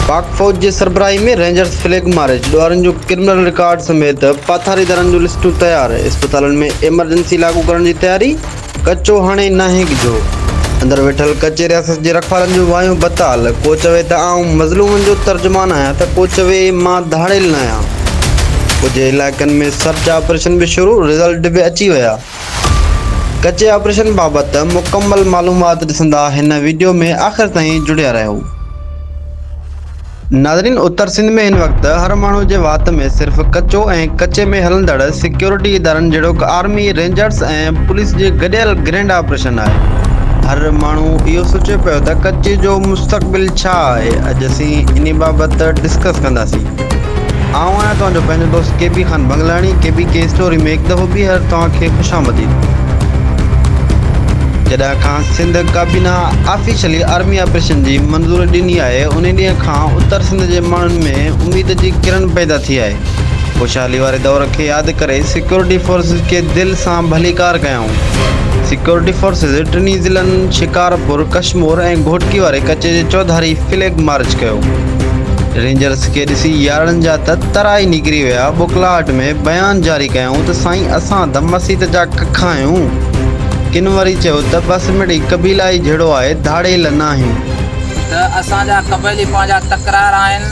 پاڪ فوج جي سربراهي ۾ رينجرز فليگ مارچ، ڏوهارين جو ڪرمنل رڪارڊ سميت پاٿاريدارن جون لسٽون تيار، اسپتالن ۾ ايمرجنسي لاڳو ڪرڻ جي تياري، ڪچو هاڻي ناهي ڳجهو، اندر ويٺل ڪچي رياست جي رکوالن جون وايون بتال، ڪو چوي ته آئون مظلومن جو ترجمان آهيان ته ڪو چوي مان ڌاڙيل ناهيان، ڪجهه علائقن ۾ سرچ آپريشن به شروع، رزلٽ به اچي ويا. ڪچي آپريشن بابت مڪمل معلومات ڏسندا هن وڊيو ۾ آخر تائين جڙيا رهو. ناظرين اتر سنڌ ۾ هن وقت هر ماڻهو جي وات ۾ صرف ڪچو ۽ ڪچي ۾ هلندڙ سيڪيورٽي ادارن جهڙوڪ آرمي، رينجرز ۽ پوليس جي گڏيل گرينڊ آپريشن آهي. هر ماڻهو اهو سوچي پيو ته ڪچي جو مستقبل ڇا آهي؟ اڄ اسين انهي بابت ڊسڪس ڪنداسين. آئون آهيان توهان جو پنهنجو دوست K B Khan Bangalani K B ڪي اسٽوري ۾ هڪ دفعو ٻيهر توهان کي خوش آمديد جڏهن کان سنڌ ڪابينا آفيشلي آرمي آپريشن جي منظوري ڏني آهي انهي ڏينهن کان اتر سنڌ جي ماڻهن ۾ اميد جي ڪرڻ پيدا ٿي آهي خوشحالي واري دور کي ياد ڪري سيڪيورٽي فورسز کي دل سان ڀليڪار ڪيائون سيڪيورٽي فورسز ٽنهي ضلعن شڪارپور ڪشمور ۽ گهوٽڪي واري ڪچي جي چوڌاري فليگ مارچ ڪيو رينجرس کي ڏسي يارڙن جا ته ترا ئي نڪري ويا، ٻوڪلاهٽ ۾ بيان جاري ڪيائون ته سائين اسان ته مسيت جا ڪک آهيون. ڪن وري چيو ته بس مڙئي قبيلا ئي جھڙو آهي، ڌاڙيل ناهيون. ته اسان جا قبيلي پنهنجا تڪرار آهن،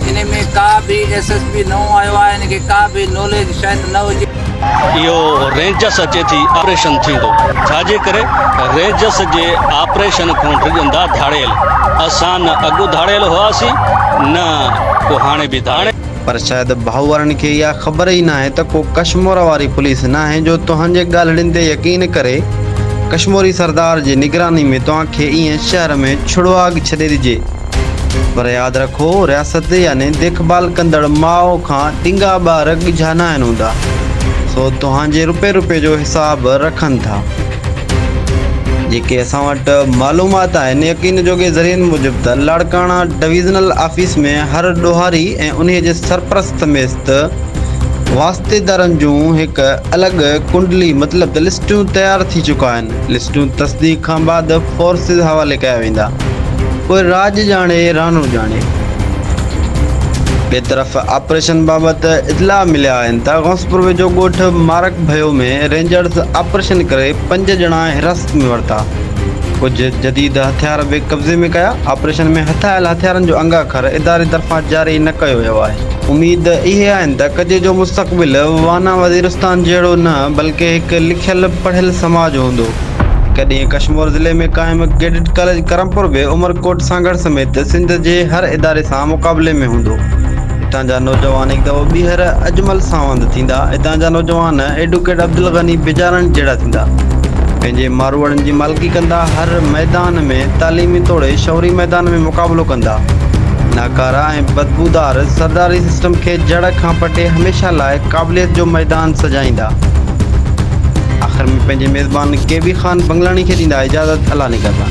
انهي ۾ ڪا به ايس ايس پي نئون آيو آهي، هن کي ڪا به ناليج شايد نه هجي. اهو رينجس اچي ٿي آپريشن ٿيندو ڇاجي ڪري رينجس جي آپريشن کان ڊڄندا ڌاڙيل اسان نه اڳ ڌاڙيل هئاسين نه ڪو هاڻي به ڌاڙيل. پر شايد ڀائو وارن کي اها خبر ئي ناهي ته ڪو ڪشمور واري پوليس ناهي جو توهان جي ڳالهڙين تي يقين ڪري ڪشموري سردار جي نگراني ۾ توهان کي ائين شهر ۾ ڇڙواڳ ڇڏي ڏجي پر ياد رکو رياست يعني ديکڀال ڪندڙ ماء کان ڏنگا ٻار ڳجها ناهن هوندا سو توهان جي رپي رپي جو حساب رکن ٿا جيڪي اسان وٽ معلومات آهن يقين جوڳي ذريعن موجب ته لاڙڪاڻا ڊويزنل آفيس ۾ هر ڏوهاري ۽ انهي جي سرپرست ميست واسطيدارن جون هڪ الڳ ڪنڊلي مطلب ته لسٽون تيار ٿي چڪا آهن لسٽون تصديق کان بعد فورسز حوالي ڪيا ويندا پوء راڄ ڄاڻي راڻو ڄاڻي. ٻئي طرف آپريشن بابت اطلاع مليا آهن ته غوثپور ويجهو ڳوٺ مارڪ ڀيو ۾ رينجرز آپريشن ڪري پنج ڄڻا حراست ۾ ورتا ڪجهه جديد هٿيار به قبضي ۾ ڪيا آپريشن ۾ هٿايل هٿيارن جو انگاکر اداري طرفان جاري نه ڪيو ويو آهي. اميد اهي آهن ته ڪجي جو مستقبل وانا وزيرستان جهڙو نه بلڪه هڪ لکيل پڙهيل سماج هوندو. هڪ ڏينهن ڪشمور ضلعي ۾ قائم ڪيڊٽ ڪاليج ڪرمپور به عمرڪوٽ سانگهڙ سميت سنڌ جي هر اداري سان مقابلي ۾ هوندو. هتان جا نوجوان هڪ دفعو ٻيهر اجمل ساوند ٿيندا. هتان جا نوجوان ايڊوڪيٽ عبدالغني بجارڻ جهڙا ٿيندا. پنهنجي ماروئڙن جي مالڪي ڪندا. هر ميدان ۾ تعليمي توڙي شعوري ميدان ۾ مقابلو ڪندا. ڪارا ۽ بدبودار سرداري سسٽم کي جڙ کان پٽي هميشه لاء قابليت جو ميدان سجائيندا. آخر ۾ پنهنجي ميزبان ڪي بي خان بنگلاڻي کي ڏيندا اجازت الله نگهبان.